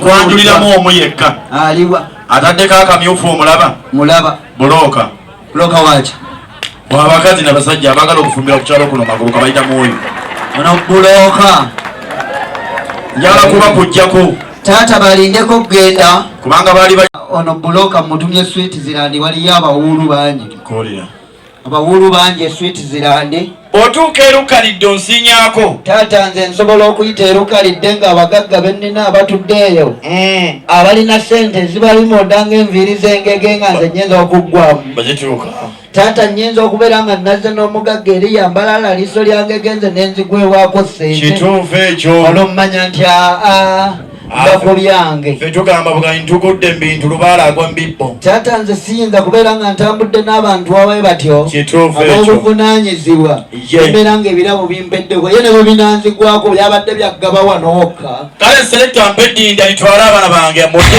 kwanjuliramu omu yekka ataddeko akamyufu omulaba mulaba bulooka bulooka waki wabakazi nabasajja abagala okufumbira kukyalo kuno magulu kabayita mwoyo ono bulooka njala kuba kujjako taata balindeko okugenda kubanga baali ono bulooka mutumye switi zirandi waliyo abawuulu bangi abawuulu bangi eswiiti zirande otuuka erukalidde onsinyako taata nze nsobola okuyita erukalidde nga abagagga bennina abatudde eyo hmm. abalina sente ezibalimoda nga enviiri zengege nga nze nyinza okuggwamu bazituuka taata nyinza okubeera nga nazze n'omugagga eri yambalala liiso lyangegenze nenzigwewaako sente kituufu ekyo olwommanya nti aa bakubyange fe tugamba buganyi tugudde mubintu lubaala agwa mubibbo taata nze siyinza kubeera nga ntambudde n'abantu abaye batyo ab'obuvunanyizibwa embeera nga ebirabo bimpeddeko ye ne bwe binanzigwako byabadde byaggaba wano wokka kale selekta mpe dinda litwale abaana bange mudde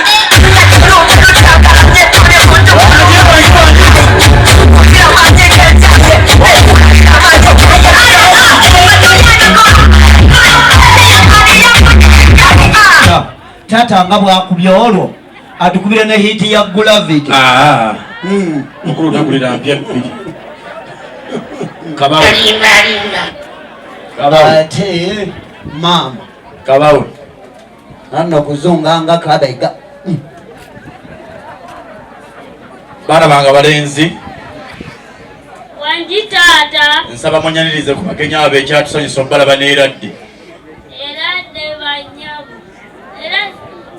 taata nga bwakubye olwo atukubire ne hiti ya gulavit ah. hmm. ate maama kabawo anno kuzunga nga kabega hmm. baana bange abalenzi wangi taata nsaba munyanirize ku bagenyi abo ekyatusanyusa omubalaba neera ddi era dde banyabo era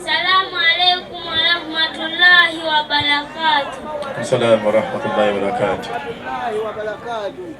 salaamu aleikum warahmatullahi wabarakatu salaamu warahmatullahi wabarakatu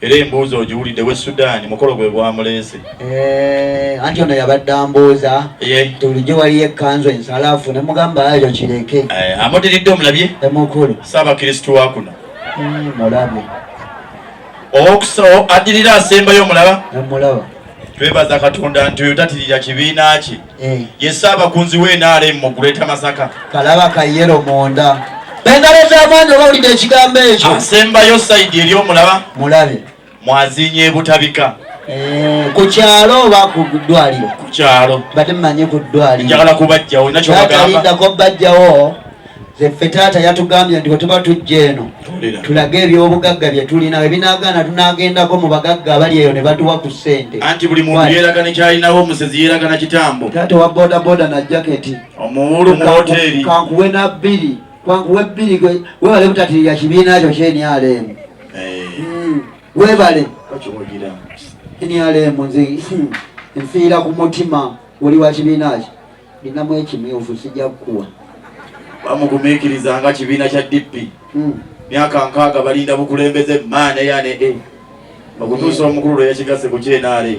Era embuuza ogiwulidde we Sudan mukolo gwe gwamuleese. Eh, anti ono yabadde ambuuza nti bulijjo waliyo ekkanzu ensalaafu ne mugamba ayo kireke. Eh, amudiridde omulabye? Emukulu. Ssaabakristu wa kuno. Hmm, mulabye. Owokusooka addirira asembayo omulaba? Emulaba. Twebaza Katonda nti oyo tatirira kibiina kye. eh. ye ssaabakunzi we nrm mu greater masaka kalaba kayero munda engalo z'amaanyi oba wulidde ekigambo ekyo asembayo saidi eri omulaba mulabe mwazinya ebutabika Eh, ku kyalo oba ku ddwaliro ku kyalo mbadde mmanyi ku ddwaliro njagala kubajjawo nakyobagambaddako bajjawo Ffe taata yatugambye nti bwetuba tujja eno tulage ebyobugagga bye tulina ebinagaana tunagendako mu bagagga abali eyo ne batuwa ku ssente anti buli muntu yeeraga ne kyalinawo omusezi yeeraga na kitambo taata wa bodaboda na jaketi omuwulu mu hoteeri kankuwe na bbiri kankuwe bbiri webale butatiirira kibiina kyo kyenyaleemu eh. hmm. webale enyaleemu nze hmm. nfiira ku mutima oli wa kibiina kyo ninamu ekimyufu sijja kukuwa bamugumiikiriza nga kibiina kya DP hmm. myaka nkaaga balinda bukulembeze maana yane e eh. okutuusa hmm. omukulu lwe yakigasse ku kyenaale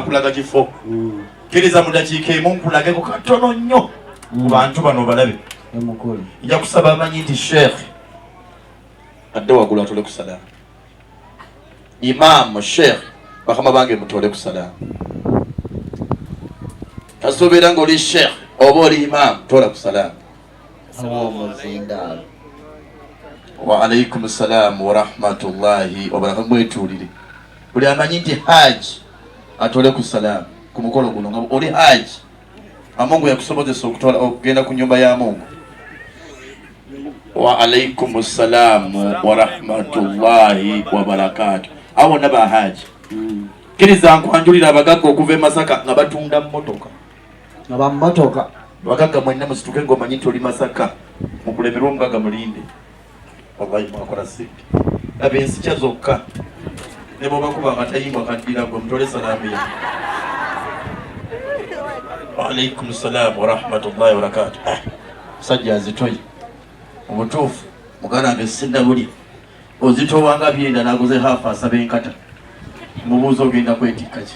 akulaga kifo kkiriza mu dakiika emu nkulageko katono nnyo ku mm. bantu bano balabe nja kusaba amanyi nti sheikh adde wagulu atole ku salamu imaamu sheikh bakama bange mutole ku salamu kasuubira ngaoli sheikh oba oli imaamu tola ku salamu aw'omuzindaalo waalaikum salaamu warahmatullahi wabarakatu mwetuulire buli amanyi nti haaji atole ku salaamu ku mukolo guno nga oli haaji amungu yakusobozesa okutwala okugenda ku nyumba ya mungu waalaikum salaamu warahmatullahi wabarakatu abo bonna ba haaji kkiriza nkwanjulira abagagga okuva e masaka nga batunda mmotoka abamumotoka bagagga mwenna musituke ngaomanyi nti oli masaka mukulemerwa omugaga mulinde wallahi mwakola sente laba ensikya zokka ne bwebakuba amatayimba kaddira gwe mutole salaamu ya waalaikum salaamu warahmatullahi wabarakatu ah, musajja azitoye omutuufu muganda nge sinna buli ozitowanga byenda naguze haafu asaba enkata mubuuza ogenda kwetikka ki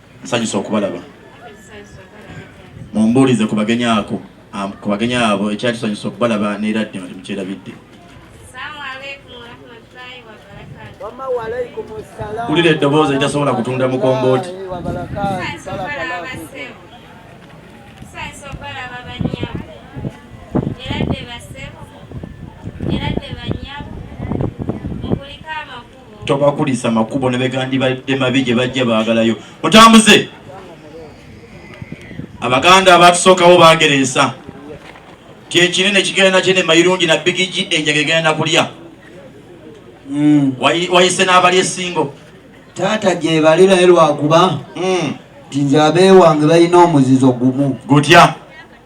Nsanyuse okubalaba. Mumbuulize ku bagenyi ako ku bagenyi abo ekyali kisanyusa okubalaba neera ddi nga temukyerabidde. Kulira eddoboozi etasobola kutunda mukombooti. tobakulisa makubo nebegandibadde mabi gye bajja baagalayo mutambuze abaganda abatusookawo bagereesa kyekinene kigenda kyene mayirungi na bigigi enjaga egenda kulya hmm. wayise n'abali esingo taata gyebali naye lwakuba hmm. nti nze abeewange balina omuzizo gumu gutya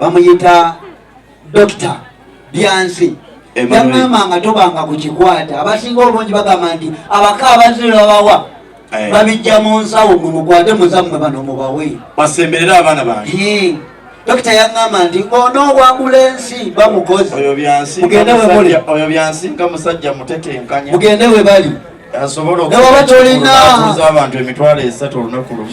bamuyita dokita byansi yagamba nga tobanga ku kikwata abasinga obungi bagamba nti abaka abaziro babawa eh. babijja mu nsawo mwe mukwate muzammwe bano mubawe basemberera abaana bange dokita yagamba nti onoowabula ensi bamukozi mugende we bali asobola okuza abantu emitwalo esatu olunaku lumu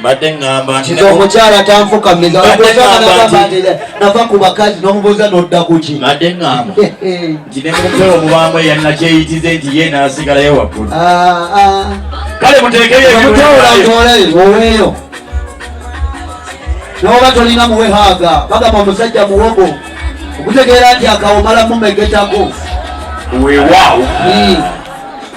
mbadde ŋŋamba nti omukyala tanfukamiza nava ku bakazi n'omubuuza n'odda ku ki mbadde ŋŋamba nti ne mumpewo mubaamu eyanakyeyitize nti ye n'asigalayo waggulu ah, ah. kale muteekeyomutewolantoleoweeyo n'oba tolina muwe haaga bagamba omusajja muwogo okutegeera nti akawomala mumegetako weewaawo hmm.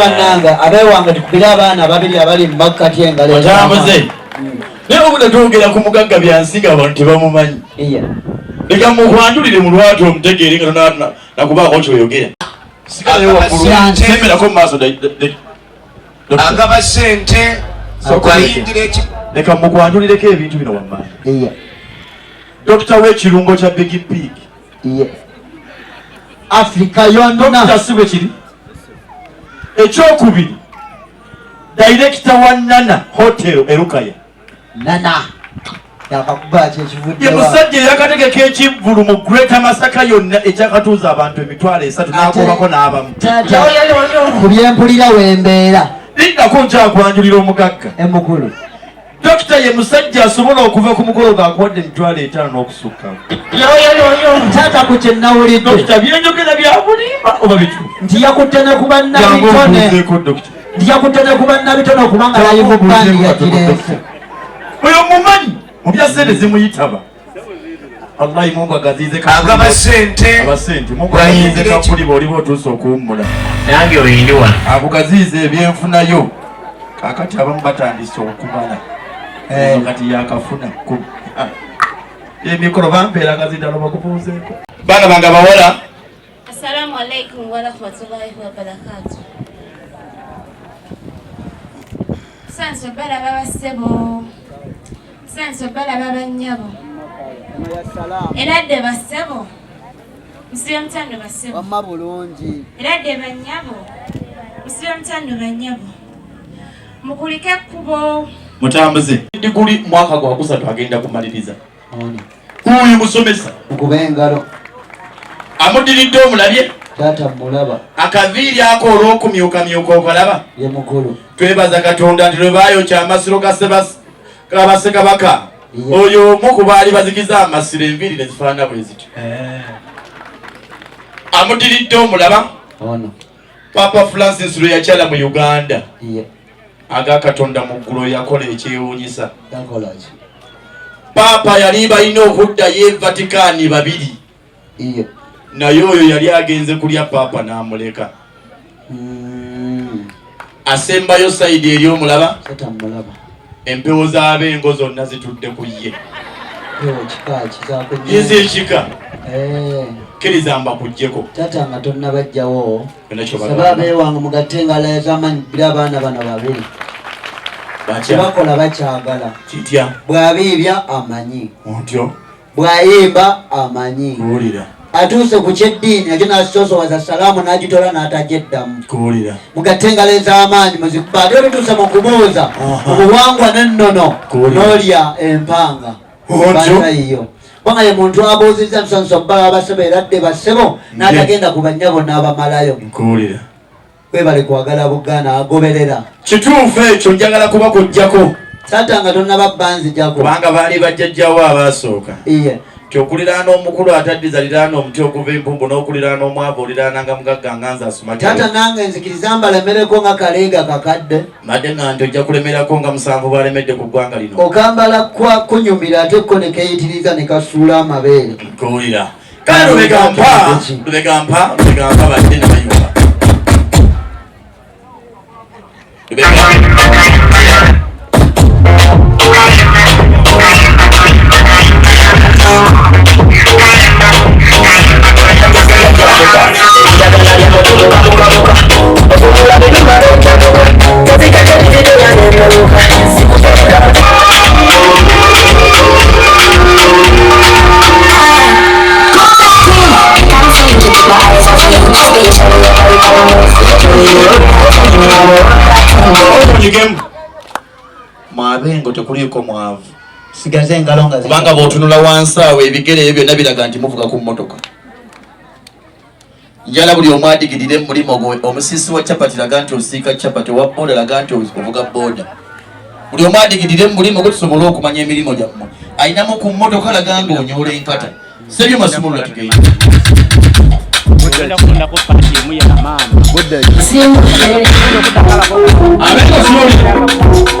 bannange abewange tukubire abaana babiri abali mu makkati engalotambuze naye obuda twogera ku mugagga byansiga abantu tebamumanyi leka mukwanjulire mu lwatu omutegeere nga tonakubaako kyoyogera agaba sente okuyingira ekik leka mukwanjulireko ebintu bino wammanga dokita wekirungo kya bigi pig afrika yonakita si bwekiri ekyokubiri dayirekita wa nana hotel erukaya nana ye musajja eyakategeka ekivvulu mu greater masaka yonna ekyakatuuza abantu emitwalo esatu nagobako n'abamu ku byempulira wembeera liddako nkyakwanjulira omugagga emukulu dokita ye musajja asobola okuva ku mukolo gwakuwadde emitwalo etaano n'okusukka taata ku kyenawulidde dokita byenjogera byabulimba oba bitu nti yakutte ne ku bannabitone lija kutete ku bannabitono kubanga bali mu bandi ya kireefu oyo mumanyi mu bya sente zimuyitaba wallahi mungu agazize kagaba sente aba sente mungu agazize kakuli boli botuuse okuwummula nange oyindiwa akugaziiza ebyenfunayo kakati abamu batandise okumala eh. kati yakafuna kumi ah. emikolo bampeera gazidalo bakubuuzeeko baana bange abawala Assalamu alaikum warahmatullahi wabarakatu. Sanso bala baba sebo. Sanso bala baba nyabo. Era de basebo. Msibe mtando basebo. Wamma bulungi. Era de banyabo. Msibe mtando banyabo. Mukulike kubo. Mutambuze. Diguli mwaka gwa kusatu agenda kumaliriza. kuuyu musomesa mukuba engalo amudiridde omulabye taata mulaba akaviiri ako olwokumyukamyuka okalaba ye mukulu twebaza katonda nti lwebayokya amasiro gabasekabaka oyo omu ku baali bazikiza amasiro enviiri nezifaanana bwe zityo eh. amudiridde omulaba papa francis lweyakyala mu uganda aga katonda mu ggulu yakola ekyewuunyisa paapa yali balina okuddayo evatikaani babiri naye oyo yali agenze kulya paapa n'amuleka hmm. asembayo sayidi eri omulaba empewo z'abengo zonna zitudde ku ye yinza ekika eh. kkiriza mbakugyeko tata nga tonnabajjawo saba abeewange mugatte engalo ez'amaanyi bbira abaana bano babiri kyebakola bakyagala kitya bw'abiibya amanyi otyo bw'ayimba amanyi kuwulira atuuse ku kyeddiini ekyo n'asosowaza salaamu n'agitola n'atagyeddamu kuwulira mugatte engalo ez'amaanyi muzikuba ate olutuuse mu kubuuza obuwangwa n'ennono n'olya empanga banayiyo kubanga ye muntu abuuzizza nsonso baba basebo era dde basebo n'atagenda ku bannyabo n'abamalayo nkuwulira webale kwagala buganda agoberera kituufu ekyo njagala kuba kujjako taata nga tonnaba banzijako kubanga baali bajjajjawo abaasooka iye nti okuliraana omukulu ataddiza liraana omuti oguva empumbu n'okuliraana omwavu oliraana nga mugagga nga nze asumataata nange nzikiriza mbalemereko nga kaleega kakadde Made nga nti ojja kulemerako nga musanvu balemedde ku ggwanga lino. Okambala kwa kunyumira ate ko ne keyitiriza ne kasuula amabeere. Nkuwulira. Kale lubega mpa, lubega mpa, lubega mpa badde ne bayumba. Lubega mpa. mwabengo tekuliiko mwavu sigaze engalo nga kubanga bwotunula wansi awo ebigere ebyo byonna biraga nti muvuga ku mmotoka njala buli omu adigirire mu mulimu gwe omusiisi wa chapati laga nti osiika chapati owa booda laga nti ovuga booda buli omu adigirire mu mulimu gwe tusobole okumanya emirimu gyammwe alinamu ku mmotoka laga nga onyoola enkata sebyo masumulula tugenda Thank you.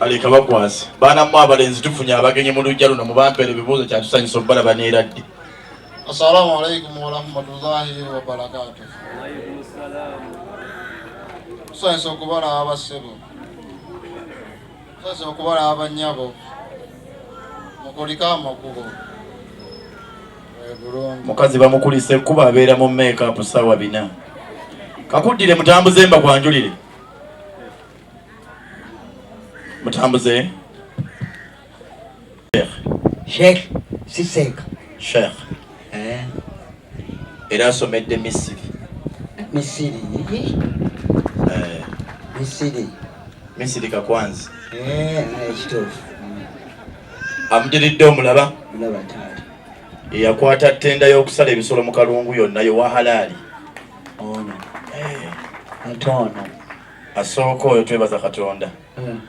aleka bakwasi baana mu abalenzi tufunye abagenyi mu lujja luno mubampera ebibuuzo kyatusanyusa obubalaba neeradde assalamu alaikum warahmatullahi wabarakatu tusanyusa okubalaba bassebo Nsoose okubalaba bannyabo mukulike amakubo mukazi bamukulise kuba abeera mu makeup saawa bina kakuddire mutambuze mba kwanjulire mutambuze sheikh si seeka sheikh eh. era asomedde misiri misiri eh. misiri misiri kakwanzi eh, ekituufu amudiridde omulaba eyakwata ttenda y'okusala ebisolo mu kalungu yonna yowa halaali ono ate ono asooka oyo twebaza katonda hmm.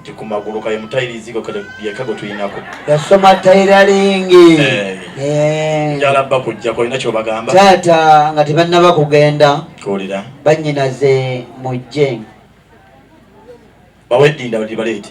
nti ku magulu kaye mutayirizi yeka gwe tulinako yasoma tayiralingi eh. eh. njala bba kujja kolina kyobagamba taata nga tebannaba kugenda kuwulira bannyinaze mujje baweddinda bali baleete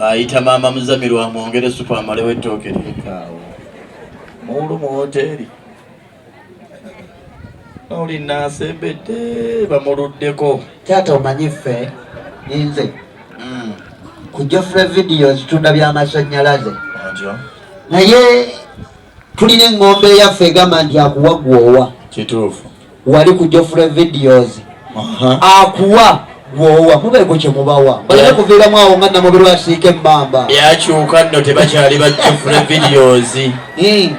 ayita maama muzamiru amwongere supu amalewo ettooke lyekaawo muulu mu woteeri oli nasembedde bamuluddeko taata omanyi ffe ninze hmm. kujofre vidiyo zitunda byamasannyalaze naye tulina engombe yaffe egamba nti akuwa gwowa kituufu wali ku jofre videos akuwa gwowa mubeeko kyemubawa balina kuviiramu awo nga namubiri wasiika emmamba byakyuka nno tebakyali ba jofre videos hmm.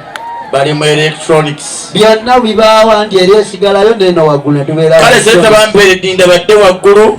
bali mu electronics byonna bibaawa nti eri esigalayo neno waggulu netubeera kale sente bamperedinda badde waggulu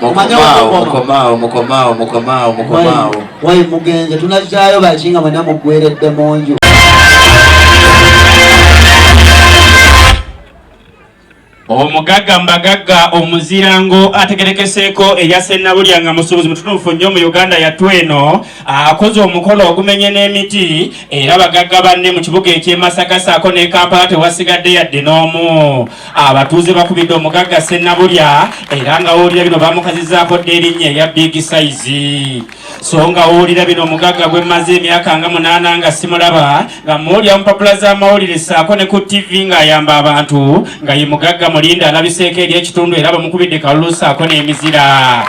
mukomaawo mukomaawo mukomaawo mukomaawo wayi mugenze tunajjayo baki nga mwena mugweredde mu nju omugagga mbagagga omuzirango ategerekeseeko erya sennabulya nga musuubuzi mutunuufu nnyo mu uganda yattu eno akoze omukolo ogumenye n'emiti era bagagga banne mu kibuga ekyemasaka saako ne kampala tewasigadde yadde n'omu Abatuuze bakubidde omugagga Ssennabulya era nga wowulira bino bamukazizaako dda erinnya erya Big Size. So nga wowulira bino omugagga gwe mmaze emyaka nga munaana nga simulaba nga muwulira mu mpapula z'amawulire ssaako ne ku TV ng'ayamba abantu nga ye mugagga Mulinda alabiseeko eri ekitundu era bamukubidde kalulu ssaako n'emizira.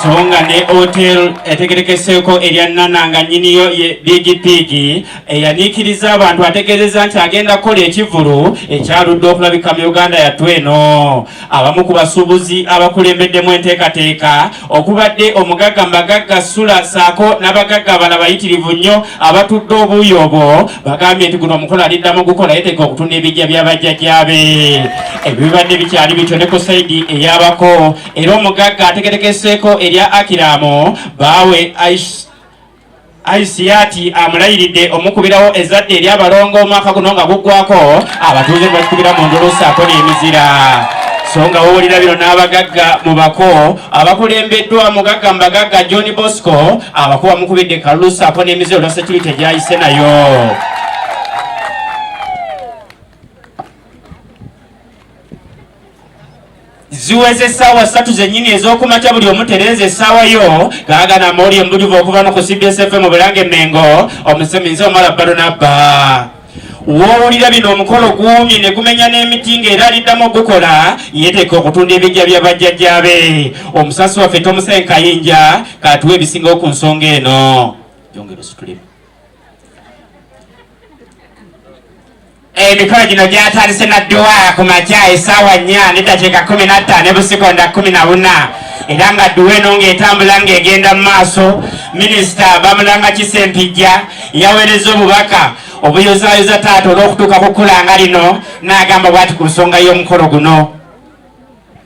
songa ne hotel etegerekeseeko erya nana nga nyiniyo ye bigipigi eyanyiikirizza abantu ategeezezza nti agenda kukola ekivvulu ekyaludde okulabika mu uganda yattu eno abamu ku basuubuzi abakulembeddemu enteekateeka okubadde omugagga mu bagagga sula saako n'abagagga abala bayitirivu nnyo abatudde obuuyi obwo bagambye nti guno omukolo aliddamu gukola yeteeka okutunda ebijja by'abajjajjaabe ebibadde bikyali bityo ne ku saidi eyabako era omugagga ategetekeseeko erya akiramu baawe Aisiati amulayiridde omukubirawo ezzadde eri abalongo omwaka guno nga guggwako abatuuze ne bakikubira mu ndulu ssaako n'emizira so nga wowulira bino n'abagagga mu bako abakulembeddwa mugagga mu bagagga john bosco abako bamukubidde kalulu ssaako n'emizira olwa security gyayise nayo ziweza essaawa ssatu zennyini ez'okumakya buli omu tereeza essaawa yo gaagana mawulire mubujuvu okuva no ku cbs fm mu bulange mengo omuseminzi omala balunabba wowulira bino omukolo guumye ne gumenya n'emiti ng'era aliddamu okugukola yeteeka okutunda ebijja bya bajjajjaabe omusasi waffe tomusenkayinja katuwa ebisingawo ku nsonga eno yongera ositulemu Emikolo gino gyatandise na dduwa ku makya essaawa nnya n'eddakiika kkumi na ttaano ebusikonda kkumi na buna era nga dduwa eno ng'etambula ng'egenda mu maaso minisita bamulanga kisempijja yaweereza obubaka obuyozaayoza taata olw'okutuuka ku kkulaanga lino n'agamba bwati ku nsonga y'omukolo guno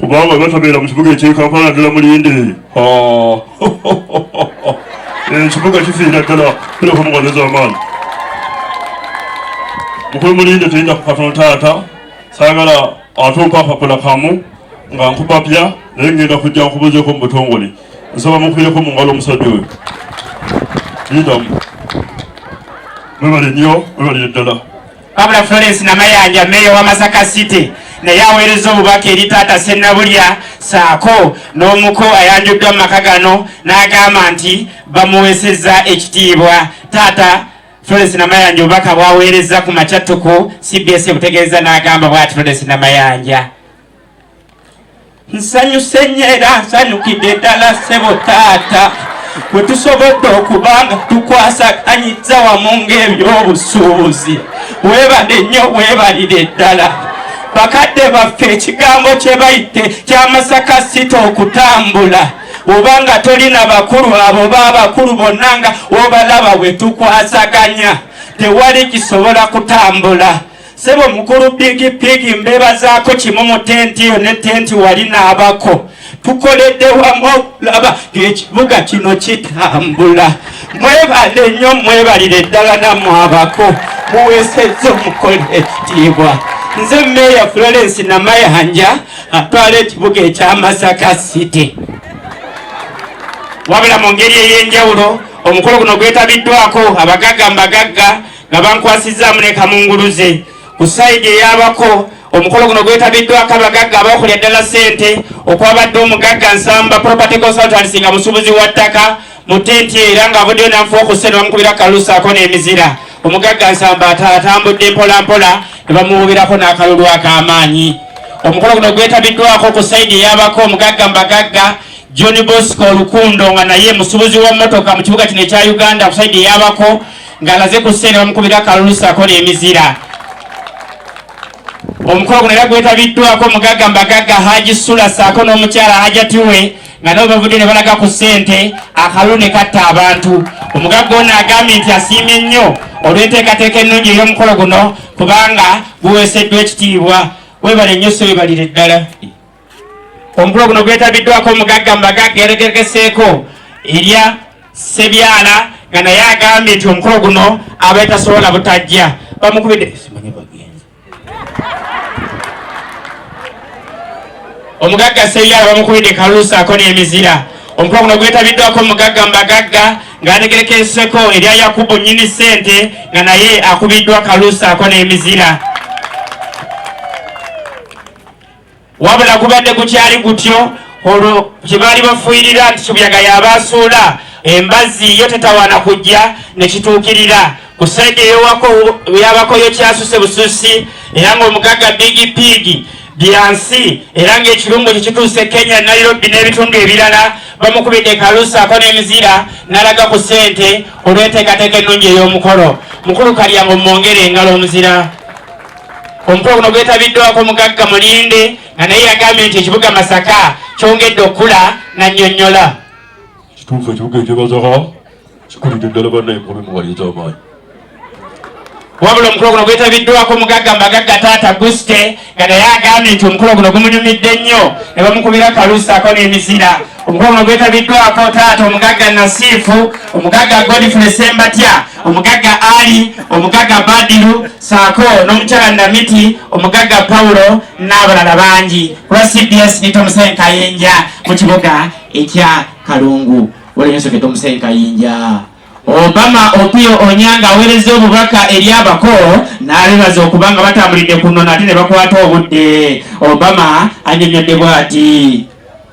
kubanga batabeera mu kibuga eky'e Kampala naddala Mulinde ekibuga eh, kifiira ddala kireka mu ngalo z'amaanyi mukulu Mulinde teyinza ku katono taata saagala atumpa akapula kamu nga nkupapya naye ngenda kujja nkubuzeeko mu butongole nsaba mukwireko mu ngalo omusajja oyo yitamu mwebale nnyo mwebalire ddala Wabula Florence Namayanja meeya wa Masaka City naye aweereza obubaka eri taata Ssennabulya saako n'omuko ayanjuddwa mu maka gano n'agamba nti bamuweesezza ekitiibwa taata Florence Namayanja obubaka bwaweerezza ku makyattuku CBS butegeeza n'agamba bwati Florence Namayanja nsanyuse nnyo era nsanyukidde ddala ssebo taata bwe tusobodde okuba nga tukwasaganyiza wamu ng'ebyobusuubuzi weebale nnyo weebalire ddala bakadde baffe ekigambo kye bayite kyamasaka sita okutambula oba nga tolina bakulu abo ba bakulu bonna nga obalaba bwe tukwasaganya tewali kisobola kutambula Sebo mukulu bigi bigi mbebazaako kimu mu tenti yo ne tenti wali naabako tukoledde wamu okulaba ng'ekibuga kino kitambula mwebale nnyo mwebalire ddala namu abako muweesezza omukole ekitiibwa nze meeya florence namayanja atwala ekibuga ekya masaka city wabula mu ngeri ey'enjawulo omukolo guno gwetabiddwako abagagga mbagagga nga bankwasizzaamu ne kamunguluze ku sayidi eyabako omukolo guno gwetabiddwako abagagga abaokulya ddala ssente okwabadde omugagga nsamba property consultancy nga musuubuzi wa ttaka mu tenti era ng'avuddeyo nanfu okusse ne bamukubira kalusaako n'emizira omugagga nsamba atambudde mpolampola ne bamuwubirako n'akalulu ak'amaanyi omukolo guno gwetabiddwako ku sayidi eyabako omugagga mbagagga john bosco olukundo nga naye musubuzi wa motoka mu kibuga kino ekya uganda kusaidi eyabako ng'alaze ku siteeni bamukubira akalulu ssaako n'emizira omukolo guno era gwetabiddwako omugagga mbagagga haji sula ssaako n'omukyala hajati we nga nabo bavudde ne balaga ku ssente akalulu ne katta abantu omugagga ono agambye nti asiimye nnyo olw'enteekateeka ennungi ey'omukolo guno kubanga guweeseddwa ekitiibwa webale nnyo so webalire ddala Omukolo guno gwetabiddwako omugagga mu bagagga eyategekeseeko erya Sebyala nga naye agambye nti omukolo guno abeetasobola butajja bamukubidde omugagga Sebyala bamukubidde kalulu saako n'emizira omukolo guno gwetabiddwako omugagga mu bagagga ng'ategekeseeko erya Yakubu nnyini ssente nga naye akubiddwa kalulu saako n'emizira wabula gubadde gukyali gutyo olwo kye baali bafuuyirira nti kibyaga yabaasuula embazzi yo tetawaana kujja ne kituukirira ku saidi eyowako yabako yo kyasuse bususi era ng'omugagga bigi piigi byansi era ng'ekirungo kye kituuse kenya nairobi n'ebitundu ebirala bamukubidde kalusaako n'emizira n'alaga ku ssente olw'enteekateeka ennungi ey'omukolo mukulu kalyango mumwongere engalo omuzira Omukolo guno gwetabiddwako omugagga Mulinde nga naye yagambye nti ekibuga Masaka kyongedde okukula n'annyonnyola. Kituufu ekibuga ekye Masaka kikulidde ddala bannaye mu mulimu wali eky'amaanyi. Wabula omukolo guno gwetabiddwako omugagga Mbagagga Taata Guste nga naye agambye nti omukolo guno gumunyumidde nnyo ne bamukubira kalusaako n'emizira. Omukolo guno gwetabiddwako taata omugagga Nasiifu, omugagga Godfrey Sembatya, omugagga Ali, omugagga Badiru saako n'omukyala Namiti omugagga Paulo n'abalala bangi kuba CBS ni Tomusen Kayinja mu kibuga ekya Kalungu walinyoseke Tomusen Kayinja Obama Opio Onyanga aweereza obubaka eri abako n'abebaza okuba nga batambulidde kuno nate ne bakwata obudde Obama anyonyodde bwati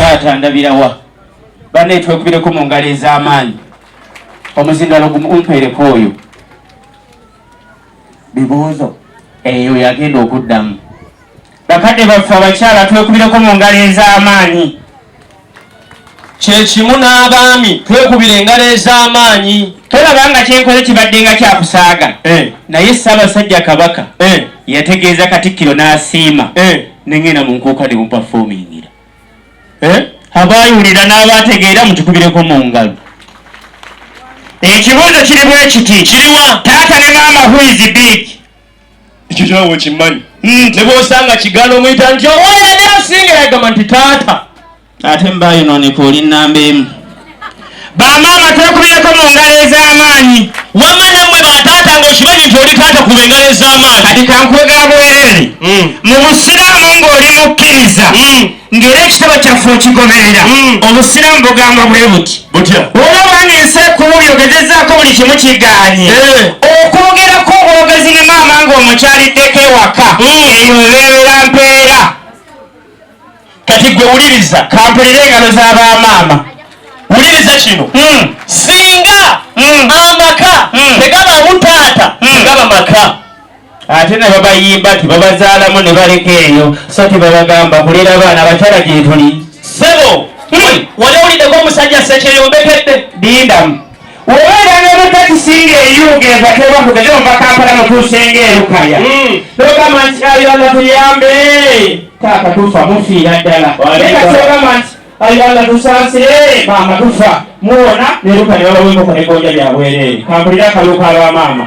taata ndabirawa bane twekubireko mu ngalo ez'amaanyi omuzindalo gumumpeereko oyo bibuuzo eyo yagenda okuddamu bakadde baffe abakyala twekubireko mu ngalo ez'amaanyi kyekimu n'abaami twekubira engalo ez'amaanyi tolaba nga kyenkoze kibadde nga kyakusaaga eh. naye ssaabasajja kabaka eh. yategeeza katikkiro n'asiima eh. nengenda mu nkuuka ne mupafomingira abaayiwulira n'abaategeera mutukubireko mu ngalo ekibuuzo kiri bwe kiti kiriwa taata ne maama huizi big ekyo kyonawe okimanyi hmm, ne bwosanga kigala omuyita nti owayali asinga yagamba nti taata ate mbayononeka oli namba emu bamaama twekubireko mu ngalo ez'amaanyi wama namwe bataata nga okimanyi nti oli taata kuba engalo ez'amaanyi kati kankwega bwerere hmm. mu busiraamu ng'oli mukkiriza hmm. ng'era ekitabo kyaffe okigoberera hmm. obusiraamu bugamba bwe buti butya olabanga ensi ekuuli ogezezaako buli kimu kiganye eh. okwogerako obwogezi ne maama ng'omukyaliddeko ewaka hmm. eyo ebeerera mpeera kati gwe wuliriza kampulira engalo za ba maama wuliriza kino hmm. singa amaka tegaba butaata tegaba maka ate ne babayimba nti babazaalamu ne baleka eyo so tebabagamba kulera abaana abakyala gyetuli sebo hmm. wali owuliddeko omusajja sekyeyombekedde dindamu obeera ne mutakisinga eyuga eva tebakugeze ova kampala mutuusenga erukaya hmm. nogamba nti ayona tuyambe taaka tufa mufiira ddala ekasogamba nti Ayi Allah tusaasire maama tufa muwona neruka ne babawa enkoko ne gonja bya bwereere kampulira akaluka aba maama